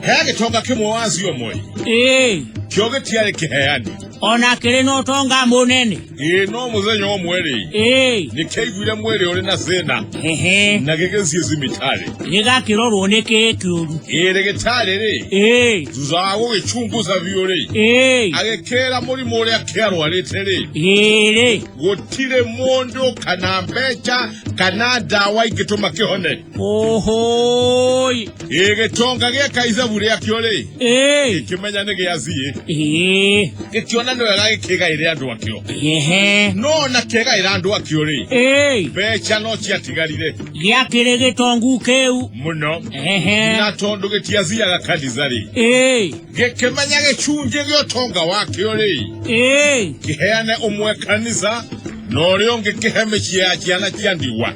hegagĩtonga kĩmwe wa acio moĩ ĩĩ kĩo gĩtiarĩ kĩheani ona kĩrĩ na ũtonga mũnene ĩĩ no mũthenya ũmwe-rĩ ĩĩ nĩkĩaiguire mwĩrĩ ũrĩ na thĩna hehe na gĩgĩthiĩ thibitarĩ gĩgakĩrorwo nĩ kĩĩ kĩũru ĩĩ rĩgĩtarĩ-rĩ ĩĩ thutha wa gũgĩcunguca biũ-rĩ ĩĩ agĩkĩra mũrimũ ũrĩa kĩarwarĩte-rĩ ĩĩrĩ gũtirĩ mũndũ kana mbeca kana ndawa ingĩtũma kĩhone Ohoi. ĩgĩconga gĩeka icabu rĩakĩo rĩ Ĩĩ. gĩkĩmenya nĩ gĩathiĩ Ĩĩ. gĩkĩona nĩ wega gĩkĩgaĩre andũ akĩo Ehe. no ona kĩgaĩra andũ akĩo rĩ Ĩĩ. mbeca no ciatigarire Gĩakĩrĩ gĩtongu kĩu. mũno Ehe. na tondũ gĩtiathiaga kanitha rĩ Ĩĩ. gĩkĩmenya gĩcunjĩ gĩa ũtonga wakĩo rĩ Ĩĩ. kĩheane ũmwe kanitha na ũrĩa ũngĩ kĩhe mĩciĩ ya ciana cia ndigwa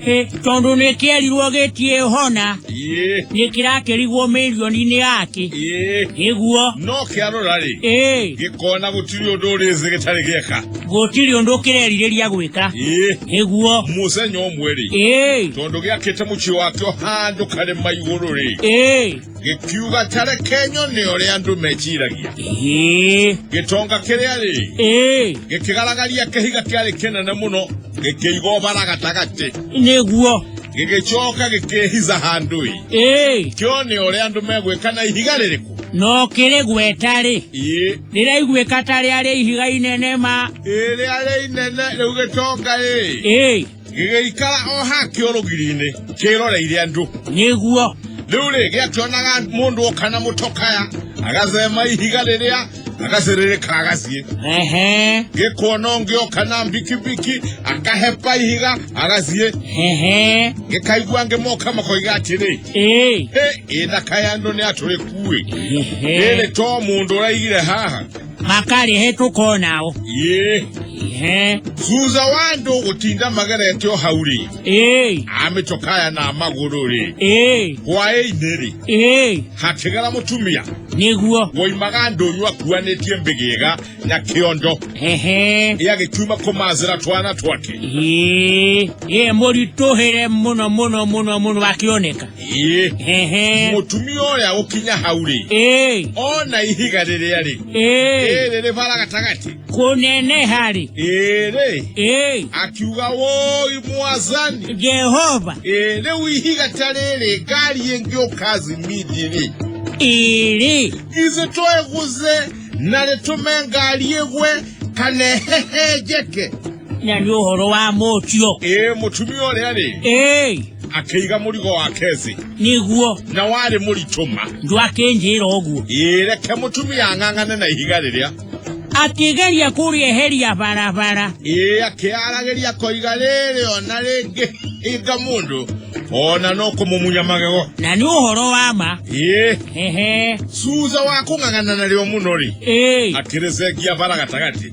Ĩ, tondũ nĩ kĩerirwo gĩtiĩ hona Ĩĩ, nĩ kĩrakĩrigwo mĩrioni-inĩ yake ĩĩ. ĩguo No kĩarora-rĩ, ĩ gĩkona gũtirĩ ũndũ ũrĩ thĩ gĩtarĩ gĩeka. gũtirĩ ũndũ kĩrerirĩria gwĩka Ĩĩ, ĩguo mũthenya ũmwe-rĩ, ĩ tondũ gĩakĩte mũciĩ wakĩo handũ karĩma igũrũ-rĩ, ĩ gĩkiuga ta reke nyone ũrĩa andũ meciragia ĩĩ gĩtonga kĩrĩa rĩ ĩĩ gĩkĩgaragaria kĩhiga kĩarĩ kĩnene mũno gĩkĩiga ũbara gatagatĩ nĩguo gĩgĩcoka gĩkĩhiza handũ-ĩ ĩĩ kĩone ũrĩa andũ megwĩka na ihiga rĩrĩkũ no kĩrĩ gweta-rĩ ĩĩ rĩraiguĩka ta rĩarĩ ihiga inene ma ĩrĩa rĩ inene rĩu gĩtonga-ĩ ĩĩ gĩgĩikara o ha kĩo rũgiri-inĩ kĩroreire andũ nĩguo rĩu rĩ gĩakĩonaga mũndũ oka na mũtokaya agacema ihiga rĩrĩa agacĩrĩrĩka agaciĩ ehe gĩkuona ũngĩ oka na mbikibiki akahepa ihiga agaciĩ ehe gĩkaigua angĩ moka makoiga atĩrĩ ee "Hĩ, ĩthaka ya andũ nĩ atũrĩkuĩ ehe rĩrĩ to mũndũ ũraigire haha makali he tuko nao ye he thutha wa andå gå tinda magerete o hau rä ee amĩcokaya na magå rå rä ee hwaä-inä rä ee hakä gera må tumia niguo woimaga ndũnyũ akuanĩtie mbĩgĩga na kĩondo ehe gĩagĩkiuma kũmacĩra twana twake ee ee mũritũhĩre mũno mũno mũno mũno akĩoneka ĩĩ Ehe. mũtumia ũrĩa gũkinya hau rĩ Ĩĩ. ona ihiga rĩrĩa rĩ Ĩĩ. rĩrĩ rĩbara gatagatĩ Kũneneha rĩ. ĩrĩ Ĩĩ. akiuga woi mwazani Jehova. ĩĩ rĩu ihiga ta rĩrĩ ngari ĩngĩũka zimidi rĩ Ĩrĩ. githĩ twegũze na rĩtũme ngari ĩgwe kana ĩhehenjeke na nä å horo wa må tio ĩĩ mũtumia ũrĩa rĩ ä akĩiga mũrigo wake thĩ nä guo na warĩ mũritũma ndwakä njä ra å guo ĩĩ reke mũtumia ang'ang'ane na ihiga rĩrĩa akä geria kå rä eheria barabara ĩĩ akĩaragĩria koiga rĩrĩ ona rĩngĩ hinga mũndũ ona no kũmũmunya magego na nä å horo wa ma ĩĩ hehe thutha wa kũng'ang'ana narĩo mũno rĩ ä akĩrĩcengia bara gatagatĩ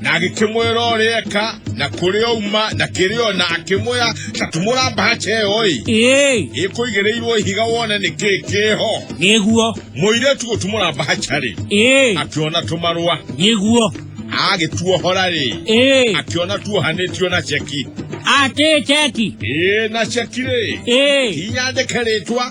na agĩkĩmwĩra ũrĩa eka na kũrĩa uma na kĩrĩa ona akĩmwĩra ta tũmũra mbahaca ĩyo ĩ ĩĩ ĩkũigĩrĩirwo ihiga wone nĩ kĩĩ kĩho nĩguo mũirĩtu gũtumũra mbahaca rĩ ĩĩ akĩona tũmarũa nĩguo agĩtuohora rĩ ĩĩ akĩona tuohanĩtio na ceki atĩ ceki ĩĩ na ceki rĩ ĩĩ inyandĩke rĩtwa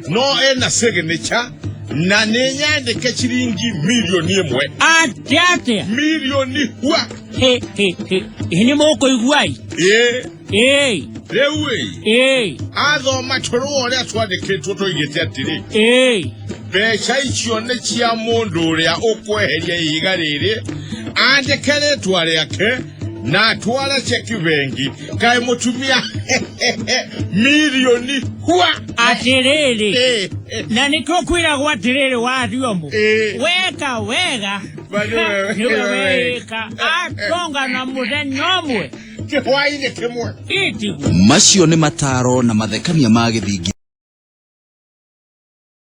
no ĩna signature na nĩnyandĩkĩciri ngi milioni ĩmwe atĩ atĩa milioni hwa Hĩ, hĩ, hĩ. Hĩ, nĩ mũkũiguai ĩĩ ĩĩ rĩu ĩ ĩĩ athoma tũrũa ũrĩa twandĩkĩtwo tũigĩte atĩrĩ ĩĩ mbeca icio nĩ cia mũndũ ũrĩa ũkweheria ihiga rĩrĩ andĩke rĩtwa rĩake na atware ceki bengi kaĩ mũtumia milioni hua atĩrĩrĩ Eh, eh, na nĩkĩo kwĩragwo atĩrĩrĩ wariomu Eh. weka wega Bali wewe- nĩwe wewe. wĩka atonga na mũthenya ũmwe kĩhwainĩ kĩmwe itigu macio nĩ mataro na mathekania ma gĩthingi